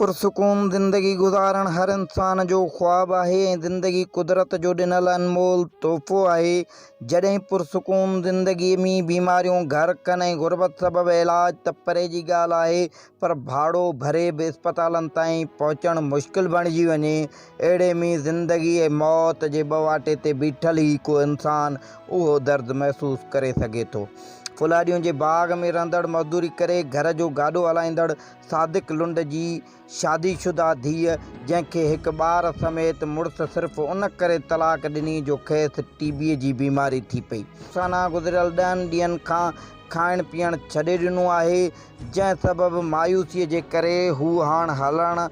پرسڪون زندگي گذارڻ هر انسان جو خواب آهي ۽ زندگي قدرت جو ڏنل انمول تحفو آهي. جڏهن پرسڪون زندگي ۾ بيماريون گهر ڪن ۽ غربت سبب علاج ته پري جي ڳالهه آهي پر ڀاڙو ڀري به اسپتالن تائين پهچڻ مشڪل بڻجي وڃي اهڙي ۾ زندگي ۽ موت جي ٻواٽي تي بيٺل ئي ڪو انسان اهو درد محسوس ڪري سگهي ٿو. ڦلهاڏيون جي باغ ۾ رهندڙ مزدوري ڪري گهر جو گاڏو هلائيندڙ صادق لنڊ جي شادي شده ڌيء جنهن کي هڪ ٻار سميت مڙس صرف ان ڪري طلاق ڏني جو کيس ٽي بيء جي بيماري ٿي پئي. ثنا گذريل ڏهن ڏينهن کان کائڻ پيئڻ ڇڏي ڏنو آهي جنهن سبب مايوسيء جي ڪري هوء هاڻ هلڻ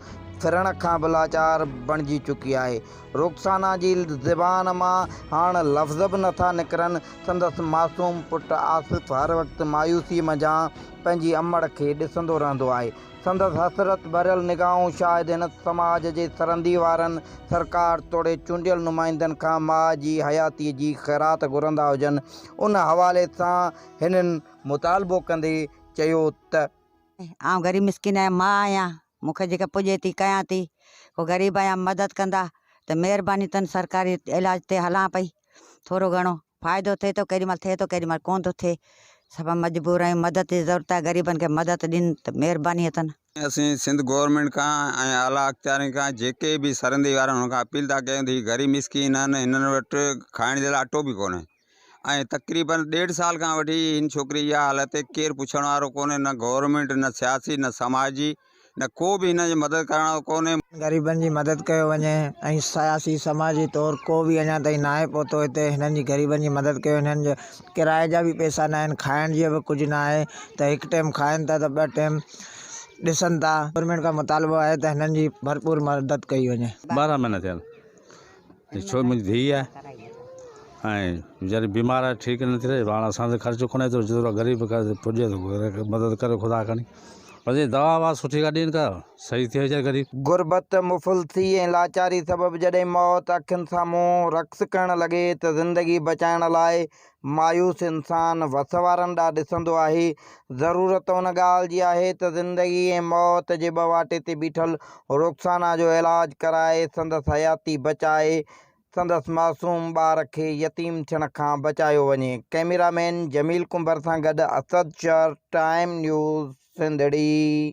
ڦرڻ کان به لاچار بڻجي چڪي آهي. رخسانا جي زبان مان هاڻ لفظ به نٿا نڪرن، سندس معصوم پٽ آصف هر وقت مايوسيء منجهان پنهنجي امڙ کي ڏسندو رهندو آهي. سندس حسرت ڀريل نگاهون شايد هن سماج جي سرندي وارن، سرڪار توڙي چونڊيل نمائندن کان ماء جي حياتيء جي خيرات گهرندا هجن. ان حوالي سان هنن مطالبو ڪندي چيو ته. آئون غريب مسڪين آهيان، ماء آهيان، مون کي جيڪا پڄي ٿي ڪيان ٿي. ڪو غريب آهيان مدد ڪندا ته مهرباني تن سرڪاري علاج تي هلان پئي ٿورو گهڻو. فائدو ٿئي ٿو ڪيڏي مھل ٿئي ٿو ڪيڏي مھل ڪونھ ٿو ٿئي سڀ مجبور آھيون مدد جي ضرورت آھي غريبن کي مدد ڏين ته مھرباني اٿن. اسين سنڌ گورنمينٽ کان ۽ اعليٰ اختيارين کان جيڪي به سرندي وارا آھن ان کان اپيل ٿا ڪيون ته ھي غريب مسڪين آھن ھنن وٽ کائڻ جي لاء اٽو به ڪونھي ۽ تقريبا ڏيڍ سال کان وٺي ھن ڇوڪري جي اھا حالت ڪير پڇڻ وارو ڪونھي نه گورنمينٽ نه سياسي نه سماجي نه ڪو به هن جي مدد ڪرڻ وارو ڪونهي. غريبن جي مدد ڪيو وڃي ۽ سياسي سماجي طور ڪو به اڃا تائين ناهي پهتو هتي هنن جي غريبن جي مدد ڪيو هنن جي ڪرائي جا به پئسا ناهن کائڻ جي به ڪجهه ناهي ته هڪ ٽيم کائن ٿا ته ٻه ٽيم ڏسن ٿا گورنمينٽ کان مطالبو آهي ته هنن جي ڀرپور مدد ڪئي وڃي. ٻارهن مهينا ٿيا آهن. ڇو منهنجي ڌيء آهي ۽ ويچاري بيمار آهي ٺيڪ نٿي رهي هاڻ اسان تي خرچ ڪونه ايترو جيترو غريب پڄي ٿو مدد ڪريو خدا کڻي بس هي دوا ووا سٺي ڪا ڏين ڪا صحيح ٿئي ويچاري غريب. غربت، مفلسي ۽ لاچاري سبب جڏهن موت اکين سامهون رقص ڪرڻ لڳي ته زندگي بچائڻ لاء مايوس انسان وس وارن ڏانهن ڏسندو آهي. ضرورت ان ڳالهه جي آهي ته زندگي ۽ موت جي ٻواٽي تي بيٺل رخسانا جو علاج ڪرائي، سندس حياتي بچائي، سندس معصوم ٻار کي يتيم ٿيڻ کان بچايو وڃي. ڪئميرا مين جميل ڪنڀر سان گڏ اسد شر، ٽائيم نيوز سنڌڙي.